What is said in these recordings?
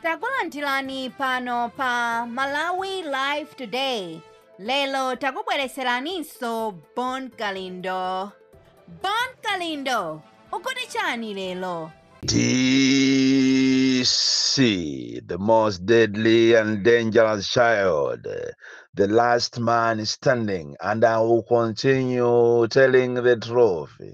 takulandirani pano pa malawi live today lero takubwereseraninso bon kalindo bon kalindo ukuti chani lero DC, the most deadly and dangerous child, the last man standing, and I will continue telling the truth.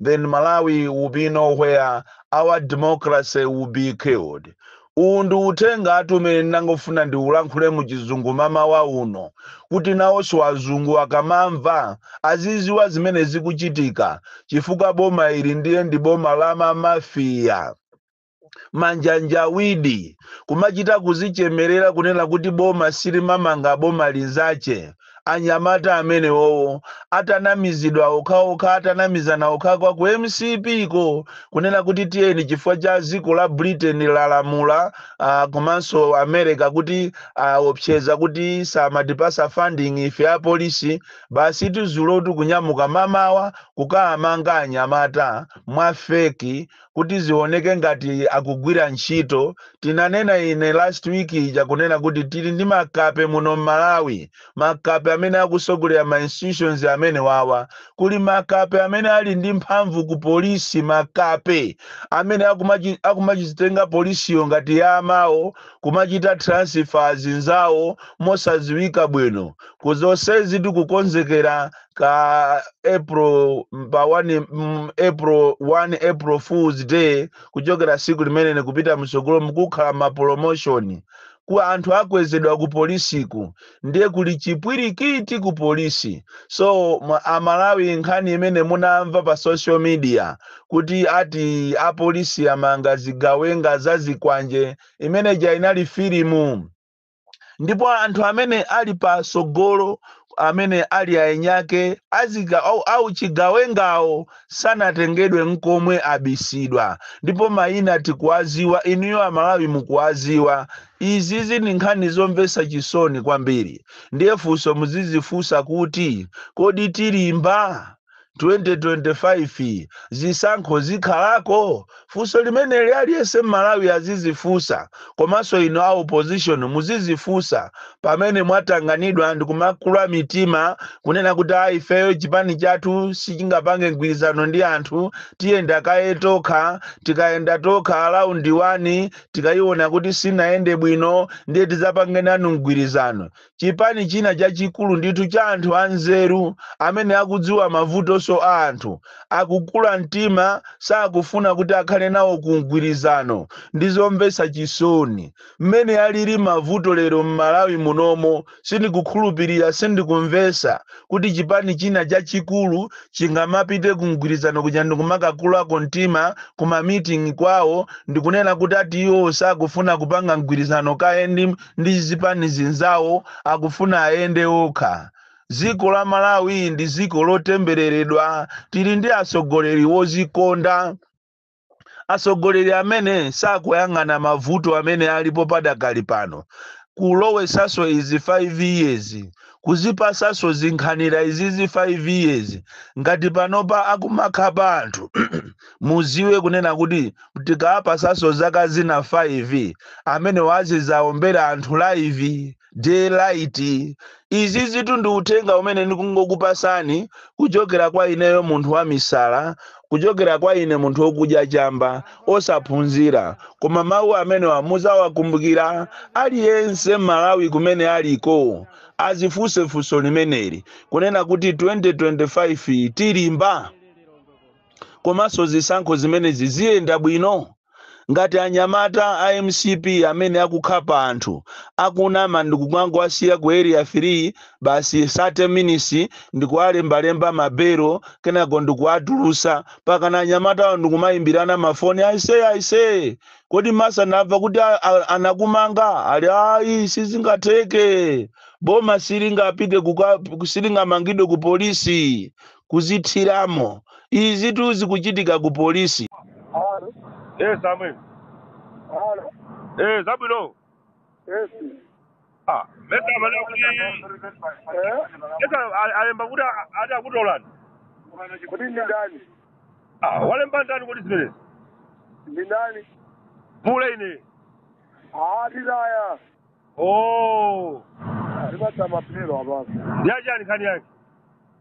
then Malawi will be no where our democracy will be killed. Uwu ndi uthengatu umene ndangofuna ndiulankhule mu chizungu mamawa uno kuti nawonso azungu akamamva aziziwa zimene zikuchitika chifukwa boma ili ndiye ndi boma la mamafiya. manjanjawidi kumachita kuzichemerera kunena kuti boma silimamanga boma linzake anyamata amenewowo atanamizidwa okhaokha atanamizana okhaokha ku mcp ko kunena kuti tiyeni chifukwa cha dziko la britain lalamula ah, komanso america kuti aopseza kuti samatipasa funding ife apolisi basi dzulotu kunyamuka mamawa kukaamanga anyamata mwa feki kuti zioneke ngati akugwira ntchito tinanena ine last week ija kunena kuti tili ndi makape muno mmalawi makape amene akusogolera ma institutions amenewawa kuli makape amene ali ndi mphamvu ku polisi makape amene akumachi- akumachitenga polisiyo ngati ya amawo kumachita transfer zinzawo mosadziwika bwino ku zonsezi tikukonzekera ka april pa 1 mm, april 1 april fools day kuchokera siku limeneli kupita msogolo mukukhala ma promotion kuti anthu akwezedwa ku polisiku ndiye kuli chipwirikiti ku polisi so ma- amalawi nkhani imene munamva pa social media kuti ati apolisi amanga zigawenga za zikwanje imeneja inali filimu ndipo anthu amene ali patsogolo amene ali aenyake azika- au- a uchigawengawo sanatengedwe nkomwe abisidwa ndipo mayina tikuwaziwa inuyo amalawi mukuwaziwa izizi ndi nkhani zomvetsa chisoni kwambiri ndiye funso muzizifunsa kuti kodi tilimba 2025 zisankho zikhalako? Funso limeneli aliyense m'Malawi azizifunsa komanso inu a opposition muzizifunsa pamene mwatanganidwa ndi kumakula mitima kunena kuti a ifeyo chipani chathu sichingapange mgwirizano ndi anthu tiyenda kaye tokha tikayenda tokha a round one tikayiona kuti sinayende bwino ndiye tizapange nanu mgwirizano chipani china chachikulu ndithu cha anthu anzeru amene akudziwa mavutonso a anthu, akukula mtima sakufuna kuti akhale nawo ku mgwirizano. Ndi zomvetsa chisoni. Mmene alili mavuto lero m'Malawi munomo sindikukhulupirira, sindikumvetsa kuti chipani china chachikulu chingamapite ku mgwirizano kuja ndikumakakulako mtima ku ma meeting kwawo ndikunena kuti ati iwowo sakufuna kupanga mgwirizano kaye ndi ndi zipani zinzawo akufuna ayende okha. Dziko la Malawi ndi dziko lotembereredwa, tili ndi atsogoleri wodzikonda, atsogoleri amene sakuyang'ana mavuto amene alipo padakali pano, kulowetsanso izi 5 years, kuzipatsanso zinkhanira izizi 5 years, ngati panopa akumakhapa anthu Muziwe kunena kuti tikawapasanso zaka zina 5 amenewa azizaombera anthu live, day light. Izizitu ndi uthenga umene ndikungokupasani kuchokera kwa ineyo munthu wamisala, kuchokera kwa ine munthu okudya chamba, osaphunzira. Koma mau amenewa muzawakumbukira aliyense mmalawi kumene aliko azifunse funso limeneli kunena kuti 2025 tilimba? Komanso zisankho zimenezi ziyenda bwino? Ngati anyamata a mcp amene akukhapa anthu akunama ndikungowasiya ku area 3 basi 30 minutes ndikuwalembalemba ma belo kenako ndikuwatulusa mpaka anyamatawo ndikumayimbirana ma foni aise aise kodi mesa ndamva kuti a, a, anakumanga ali ayi sizingatheke boma silingapite silingamangidwe ku polisi kuzithiramo. Izitu zikuchitika ku polisi. Alo, Eh, Samuel. alo, Eh, zabwino. esi. Ah, mesa amene akuti Eh? mesa a- alemba kuti a- ati akutolani. Kuti ndi ndani? Ah, walemba ndani kuti zimenezi? Ndi ndani? Pule ine. Ah, tizaya. Oh, Ndipatsa maphero apapo. ndi achani nkhani yake?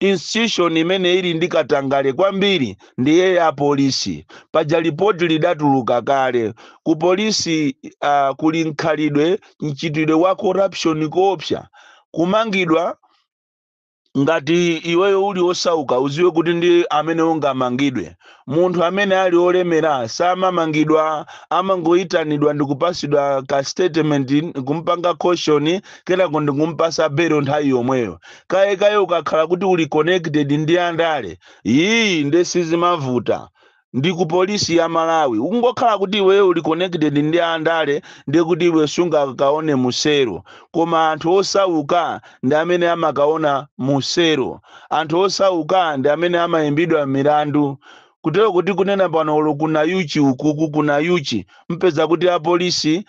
institution imene ili ndi katangale kwambiri ndiye ya polisi paja lipoti lidatuluka kale ku polisi uh, kuli mkhalidwe mchitidwe wa corruption koopsa kumangidwa ngati iweyo uli osauka uziwe kuti ndi amene ungamangidwe Munthu amene ali olemera samamangidwa amangoitanidwa ndikupasidwa ka statement kumpanga caution kenako ndikumpasa belo nthawi yomweyo. Kaye kaye ukakhala kuti uli connected ndi andale iih nde sizimavuta ndi ku polisi ya Malawi. Ukungokhala kuti iweyo uli connected ndi andale ndekuti iwe sungakaone mu selo. Koma anthu osauka. ndi amene amakaona mu selo. Anthu osauka ndi amene amaimbidwa milandu. Kutero kuti kunena pano olo ku Nayuchi ukuku ku Nayuchi mpeza kuti a polisi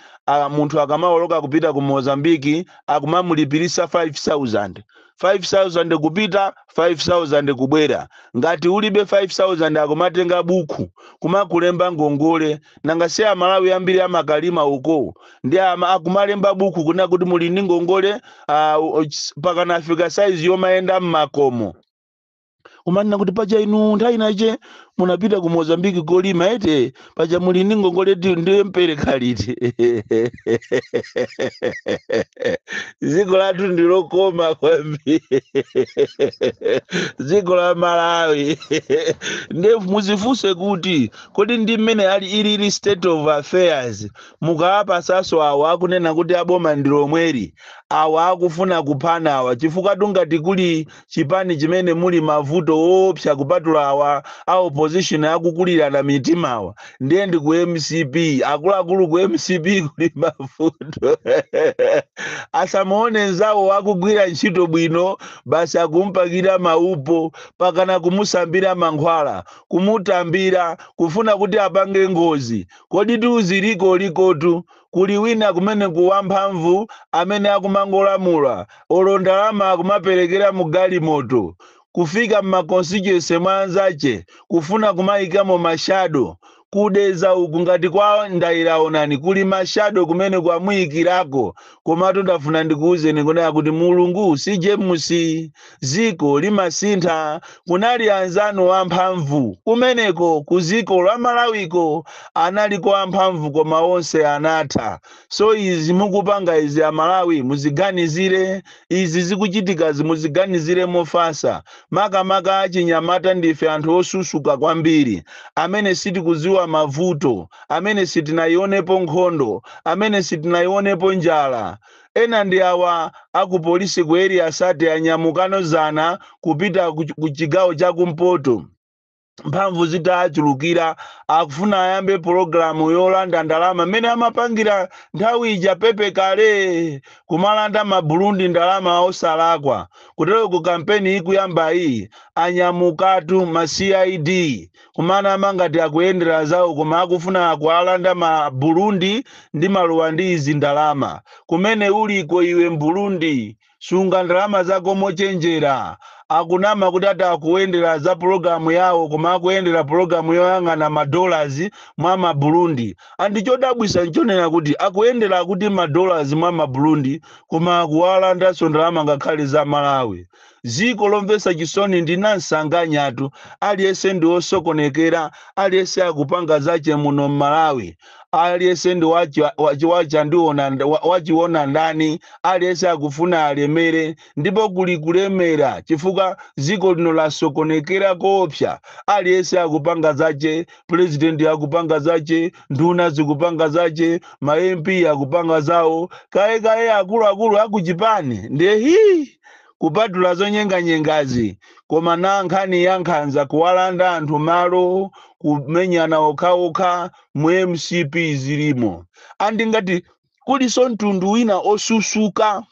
munthu akamaoloka kupita ku Mozambique akumamulipilisa 5000. 5000 kupita 5000 kubwera. Ngati ulibe 5000 akumatenga bukhu kumakulemba ngongole. Nanga si a Malawi ambiri amakalima uko. ndi akumalemba buku kunena kuti muli ndi ngongole pakanafika saizi yomayenda mmakomo kumanena kuti paja inu nthawi inache munapita ku mozambiki kolima eti paja muli ndi ngongole ndiye mpereka liti dziko lathu ndilokoma kwambiri dziko la malawi nde muzifunse kuti kodi ndi mmene ali ilili state of affairs mukawapasanso awa akunena kuti aboma ndilomweli awa akufuna kuphana awa chifukwa tungati kuli chipani chimene muli mavuto oopsa kupatula awa a opposition akukulirana mitima awa ndiye ndi ku mcp akuluakulu ku mcp kuli mavuto asamuone nzawo akugwira ntchito bwino basi akumpakira maupo pakana kumusambira mankhwala kumutambira kufuna kuti apange ngozi Kodi tiuze ziliko likotu kuli wina kumeneko wamphamvu amene akumangolamula olo ndalama akumaperekera mu galimoto kufika mma constituency mwa anzache kufuna kumaikamo ma shadow. Ku Dedza uku ngati kwa Ndaira onani kuli ma shadow kumeneko amuikirako komatu ndafuna ndikuuzeni kunena kuti Mulungu si James. Dziko limasintha kunali anzanu amphamvu kumeneko kudziko la Malawiko analiko amphamvu koma onse anatha so izi mukupanga izi amalawi muziganizire izi zikuchitikazi muziganizire mofasa makamaka achinyamata ndife anthu osusuka kwambiri amene sitikudziwa mavuto amene sitinayionepo nkhondo amene sitinayionepo njala Ena ndi awa a ku police ku area 30 anyamukano zana kupita ku chigawo cha kumpoto mphamvu zitaachulukira akufuna ayambe pologalamu yolanda ndalama mmene amapangira nthawi ija PP kale kumalanda ma Burundi ndalama osalakwa kuteroko kampeni ikuyambayi anyamukatu ma cid kumanama kuti ngati akuyendera zawo koma akufuna akawalande ma Burundi ndi ma Rwandese ndalama. Kumene uliko iwe Mburundi sunga ndalama zako mochenjera. Akunama kuti ati akuyendera za pulogalamu yawo koma akuyendera pulogalamu yoyang'ana ma dollars mwa ma Burundi. And chodabwisa nchonena kuti akuyendera akuti ma dollars mwa ma Burundi koma akuwalandanso ndalama ngakhale za Malawi. Dziko lomvetsa chisoni ndi nansanganyatu, aliyense ndi wosokonekera, aliyense akupanga zache muno m'Malawi, aliyense ndi wachionandani ndani, aliyense akufuna alemere ndipo kuli kulemera chifukwa dziko lino lasokonekera koopsa, aliyense akupanga zache, Pulezidenti akupanga zache, nduna zikupanga zache, ma MP akupanga zawo, kaye kaye akuluakulu akuchipani ndiye hii! kupatula zonyenganyengazi, koma na nkhani ya nkhanza, kuwalanda anthu malo, kumenyana okhaokha mu mcp zilimo. Ndiye ngati kulinso mtundu wina osusuka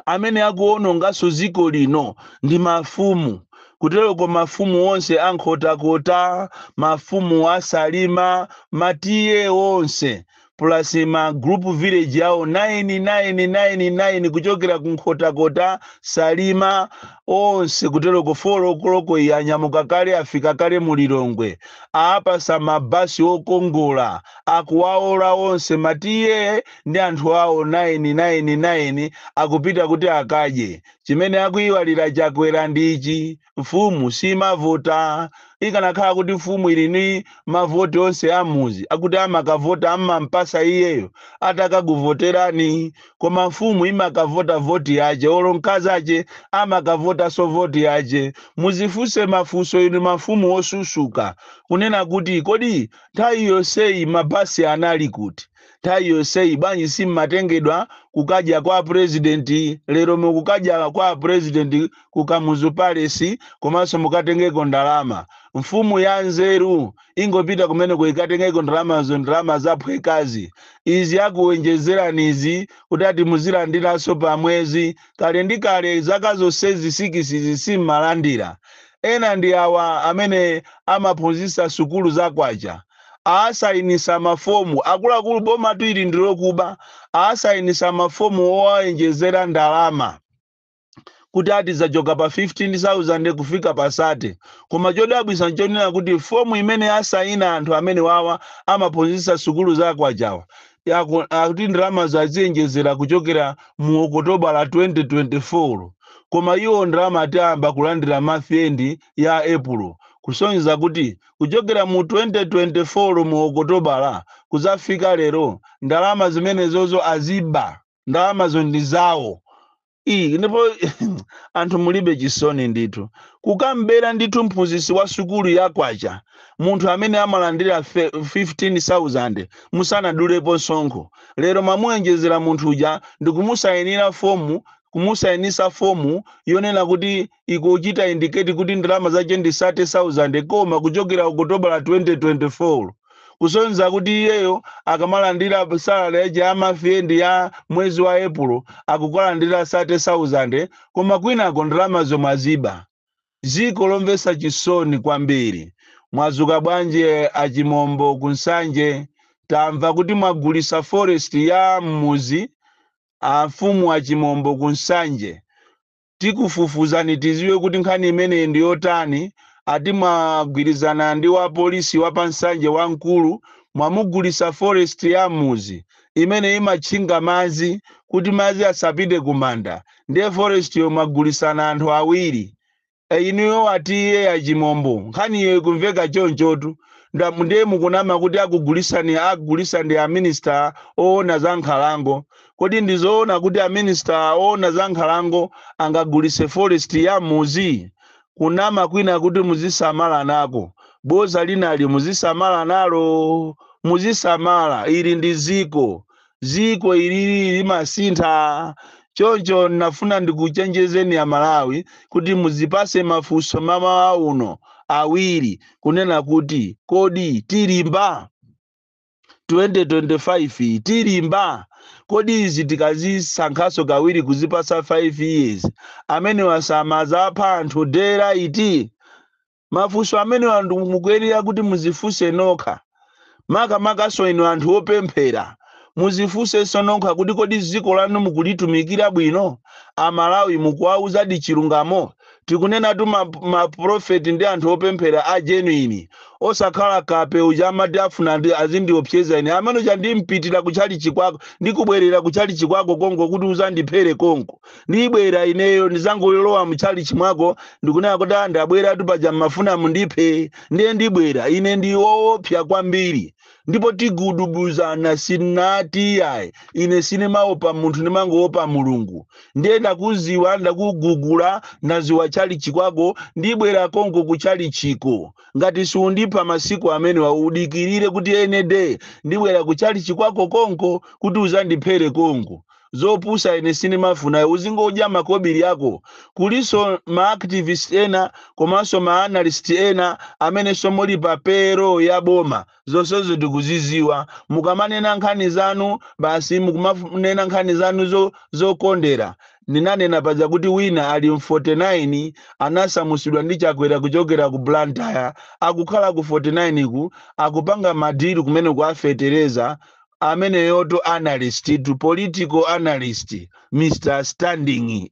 amene akuwononganso dziko lino ndi mafumu kuteroko mafumu onse a nkhotakota mafumu a salima matiye onse plus ma group village awo 9999 kuchokera ku nkhotakota salima onse kuteroko folo koloko iyi anyamuka kale afika kale mu lilongwe awapatsa mabasi okongola akuwaola onse matiye ndi anthu awo 999 akupita kuti akadye chimene akuiwalira chakwera ndi ichi mfumu simavota. Ikanakhala kuti mfumu ili ni mavoti onse a m'mudzi akuti amakavota amampatsa iyeyo atakakuvoterani. Koma mfumu imakavota voti yache olo mkazache amakavotaso voti yache. Muzifunse mafunso inu mafumu osusuka. Kunena kuti kodi nthawi yonseyi ma bus anali kuti? Nthawi yonseyi bwanji simmatengedwa kukadya kwa a president lero mukukadya kwa a president ku Kamuzu Palace komanso mukatengeko ndalama. Mfumu ya nzeru ingopita kumeneko ikatengeko ndalamazo ndalama zaphwekazi. Izi akuonjezerani izi kuti ati muzilandiranso pa mwezi. Kale ndi kale zaka zonsezi sikisizi simmalandira. Ena ndi awa amene amaphunzitsa sukulu za kwacha. Awasayinitsa mafomu. Akuluakulu bomatu ili ndi lokuba. Awasayinitsa mafomu owaonjezera ndalama. kuti ati zachoka pa 15000 kufika pa 30 koma chodabwisa nchonena kuti fomu imene asayina anthu amene wawa amaphunzitsa sukulu za akwachawa yaku- akuti ndalamazo aziyenjezera kuchokera mu okotobala la 2024 koma iwo ndalama ati ayamba kulandira month end ya epulo kusonyeza kuti kuchokera mu 2024 mu okotobala kuzafika lero ndalama zimenezozo aziba ndalamazo ndi zawo iyi ndipo anthu mulibe chisoni ndithu kukambera ndithu mphunzitsi wa sukulu ya kwacha munthu amene amalandira fe- 15000 musanadulepo msonkho lero mwamuwonjezera munthu uja ndikumusayinira fomu kumusayinisa fomu yonena kuti ikuchita indicate kuti ndalama zache ndi 30,000 koma kuchokera Okotobala 2024 kusonyeza kuti iyeyo akamalandira salary yache ya month end ya mwezi wa April akukalandira 30,000 koma kwinako ndalamazo mwaziba. Dziko lomvetsa chisoni kwambiri. Mwadzuka bwanji eh, achimombo ku Nsanje? Tamva kuti mwagulitsa forest ya m'mudzi amfumu a Chimombo ku Nsanje. tikufufuzani tiziwe kuti nkhani imeneyi ndi yotani ati mwagwirizana ndi wa polisi wa pa Nsanje wamkulu mwamugulisa forest ya mmuzi imene imatchinga madzi kuti madzi asapite kumanda ndiye forestyo mwagulisana anthu awiri E, inuyo ati iye a Chimombo nkhaniyo ikumveka chonchotu Nda- ndiye mukunama kuti akugulisani agulisa ndi aminister oona za nkhalango Kodi ndi zoona kuti a minister oona za nkhalango angagulise forest ya mmuzi? Kunama kwina kuti muzisamala nako, boza linali muzisamala nalo? Muzisamala, ili ndi ziko. Ziko ilili limasintha. Choncho nafuna ndikuchenjezeni a Malawi kuti muzipase mafunso mamawa uno awiri kunena kuti kodi tilimba? 2025 tilimba kodi izi tikazisankhaso kawiri kuzipasa 5 years amene wasamaza apha anthu dera iti mafunso amenewa anthu mukuyenera kuti muzifuse nokha makamakaso inu anthu opemphera muzifuseso nokha kuti kodi ziko lanu mukulitumikira bwino amalawi mukuwauzadi chilungamo Tikunenatu ma, ma prophet ndi anthu opemphera a genuine. Osakhala kape uja amati afuna andi- azindiopseza ine. Amene uja ndimpitira ku chalichi kwako, ndikubwerera ku chalichi kwako konko kuti uzandiphere konko. Ndibwera ineyo ndizangolowa mu chalichi mwako ndikunena kuti ah ndabweratu paja mmafuna mundiphe. Ndiye ndibwera. Ine ndi woopsa kwambiri. ndipo tigudubuzana sunati iyayi ine sinimaopa munthu ndimangoopa mulungu ndiye ndakuziwa ndakugugula ndaziwa chalichi kwako ndibwera konko ku chalichiko ngati siundipha masiku amenewa udikirire kuti any day ndibwera ku chalichi kwako konko kuti uzandiphere konko zopusa ine sindimafuna uzingodya makobili akowo kulinso ma activist ena komanso ma analyst ena amenenso muli pa payroll ya boma zonsezo tikuziziwa mukamanena nkhani zanu basi mukumanena nkhani zanu zo, zokondera ndinanena paja kuti wina ali mu 49 anasamusidwa ndi chakwera kuchokera ku blantyre akukhala ku 49 ku akupanga madilu kumene kuwapeperetsa ameneyotu analyst tu political analyst mr standing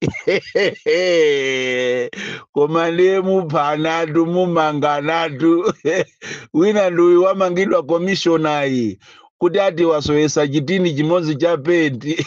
koma ndiye muphanatu mumanganatu wina ndi uyu wamangidwa commissioner kuti ati wasowetsa chitini chimodzi cha penti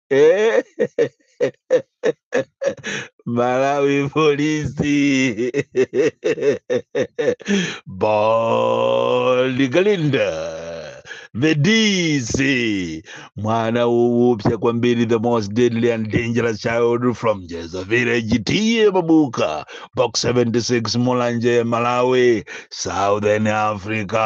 Eh, Malawi polisi Baligalinda the DC mwana woopsa kwambiri the most deadly and dangerous child from Jeza village tiye mabuka box 76 Mulanje Malawi Southern Africa